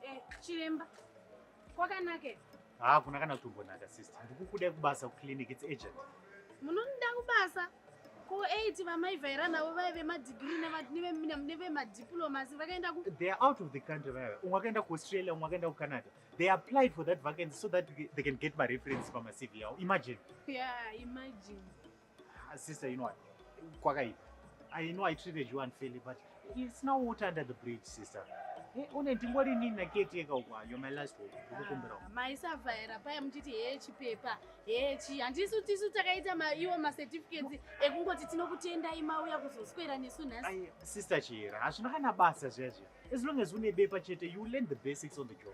Eh, chiremba kwakanake haakuna kana kutombonaka sister ndikukuda kubasa kuclinic its agent munonida kubasa ko 8 vamaivhaira navo vaive madigiri nevemadiplomas vakaenda ku they are out of the country vaive umwe akaenda kuaustralia umwe akaenda kucanada they applied for that vacancy so that they can get mareference pamacv yavo imagine yeah imagine Ah, sister, you know what? Kwakaipa. I know I treated you unfairly, but it's now water under the bridge, sister. Eh, une ndingori nini naketeka uko you're my last hope ndikukumbira uko maisavhaira paya muchiti hee chipepa hee chii handisu tisu takaita ma- iwo macertificates ekungoti tinokutendai mauya kuzoswera nesu nhasi Ai, sister chihera hazvina kana basa zviya zviya as long as une bepa chete you learn the basics on the job